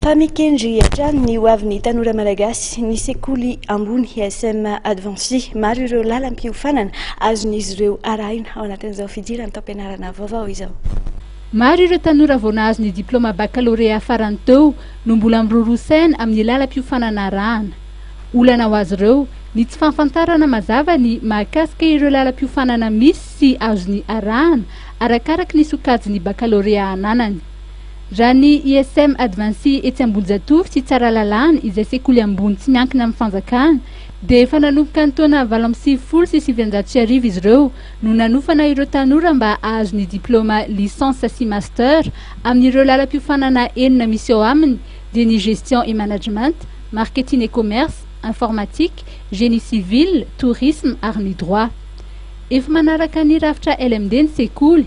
Fa mikendry hatrany ny ho avin'ny tanora malagasy ny sekoly ambony ESM Advancé. Maro ireo lalam-piofanana azon'izy ireo arahina ao anatin'izao fidiran'ny taom-pianarana vaovao izao. Maro ireo tanora vao nahazo ny diplaoma bakalorea farany teo no mbola miroroa saina amin'ny lalam-piofanana arahana. Olana ho azy ireo ny tsy fahafantarana mazava ny mahakasika ireo lalam-piofanana misy sy azony arahana arakaraky ny sokajin'ny bakalorea ananany. Raha ny ISM Advancé etsy Ambohijatovo sy Tsaralalàna izay sekoly ambony tsy miankina amin'ny fanjakana dia efa nanomboka ny taona valo amby sivifolo sy sivinjato sy arivo izy ireo no nanofana ireo tanora mba hahazo ny diplaoma licence sy master amin'ireo lalam-piofanana enina misy ao aminy dia ny gestion et management, marketing et commerce, informatique, génie civil, tourisme ary ny droit. Efa manaraka ny rafitra LMD ny sekoly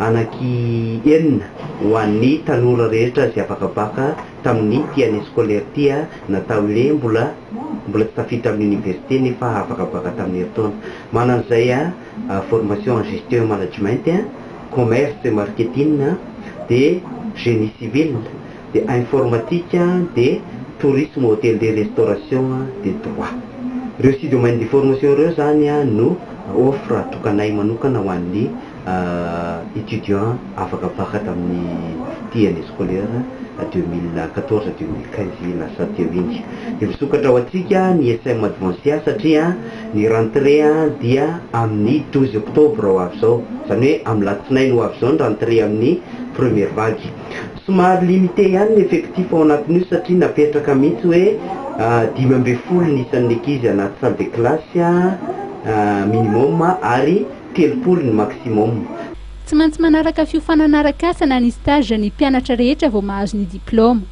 anaky enina ho an'ny tanora rehetra izay afaka baka tamin'ity année scolaire ity na tamin'ilay mbola mbola tsy tafiditra amin'ny université nefa afaka baka tamin'ny herintaona. Manana izay formation en gestion et management, commerce et marketing, dia génie civil, dia informatique, dia tourisme hotellerie restauration, dia droit. Ireo six domaines de formation ireo izany no offre tokanay manokana ho an'ny. Étudiants afaka mpaka tamin'ny ity année scolaire deux mille quatorze deux mille quinze lasa teo iny. Dia misokatra ho antsika ny SM Advancia satria ny rentrée dia amin'ny douze octobre ho avy izao. Izany hoe amin'ny latsinainy ho avy izao ny rentrée amin'ny première vague. Somary limité ihany ny effectif ao anatin'io satria napetraka mihitsy hoe dimy ambin'ny folo ny isan'ny ankizy anaty salle de classe minimum ary telopolo ny maximum. Tsy maintsy manaraka fiofanana arak'asa na ny stage ny mpianatra rehetra vao mahazo ny diplaoma.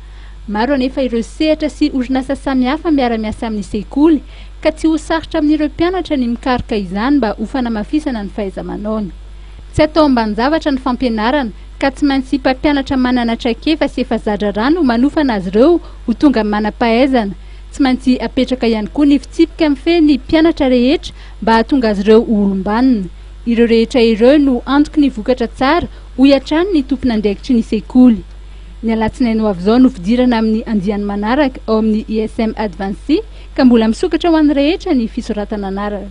Maro anefa ireo sehatra sy orinasa samihafa miara-miasa amin'ny sekoly ka tsy ho sarotra amin'ireo mpianatra ny mikaroka izany mba ho fanamafisana ny fahaiza-manaony. Tsy atao ambanin-javatra ny fampianarana ka tsy maintsy mpampianatra manana traikefa sy efa za-draharaha no manofana azy ireo ho tonga manam-pahaizana. Tsy maintsy apetraka ihany koa ny fitsipika mifehy ny mpianatra rehetra mba hahatonga azy ireo ho olom-banona. Ireo rehetra ireo no antoky ny vokatra tsara, hoy hatrany ny tompon'andraikitry ny sekoly. Ny alatsinainy ho avy izao no fidirana amin'ny andiany manaraka ao amin'ny ISM Advanced ka mbola misokatra ho an'ny rehetra ny fisoratana anarana.